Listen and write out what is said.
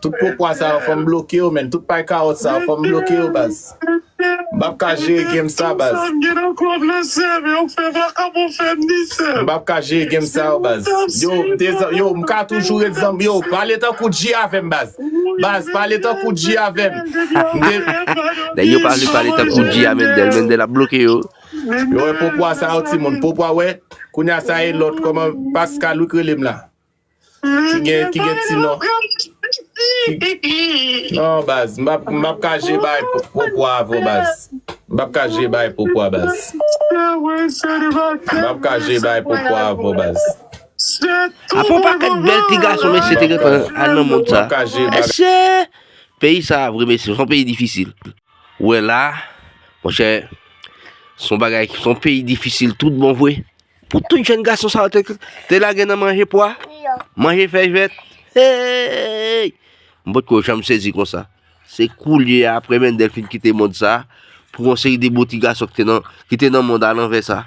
Tout pokwa sa yo fòm bloke yo menn tout pay kawòt sa yo fòm bloke yo baz m pap ka jere game sa baz m pap ka jere game sa yo baz yo m te zanmi yo m ka toujou ret zanmi yo pale tankou G avèm baz baz pale tankou G avèm m te Nèg yo pa vle pale tankou G a Mendel Mendel ap bloke yo. Yo wè pokwa sa yo timoun pokwa wè kounya sa e lòt kòman Pascalook relem la. Ki gen ki gen ti non. Non baz m pap m pap ka je bay po pwa avèw baz. M pap ka je bay po pwa baz. M pap ka je bay po pwa avèw baz. Apa w pa ka gen bèl ti gason mesye te gentan al nan mond sa. Mesye! Peyi sa vre mesye, son peyi difisil. Ou wè la, monchè, son bagay, son peyi difisil tout bon vre. Pou tout jèn gason sa yo te lage nan manje pwa, manje fèy vèt. Hey! M pa t ko janm sezi konsa. Se koulye a, apre Mendel fin kite mond sa, pou yon seri de bouti gason ki te nan mond alanvè sa.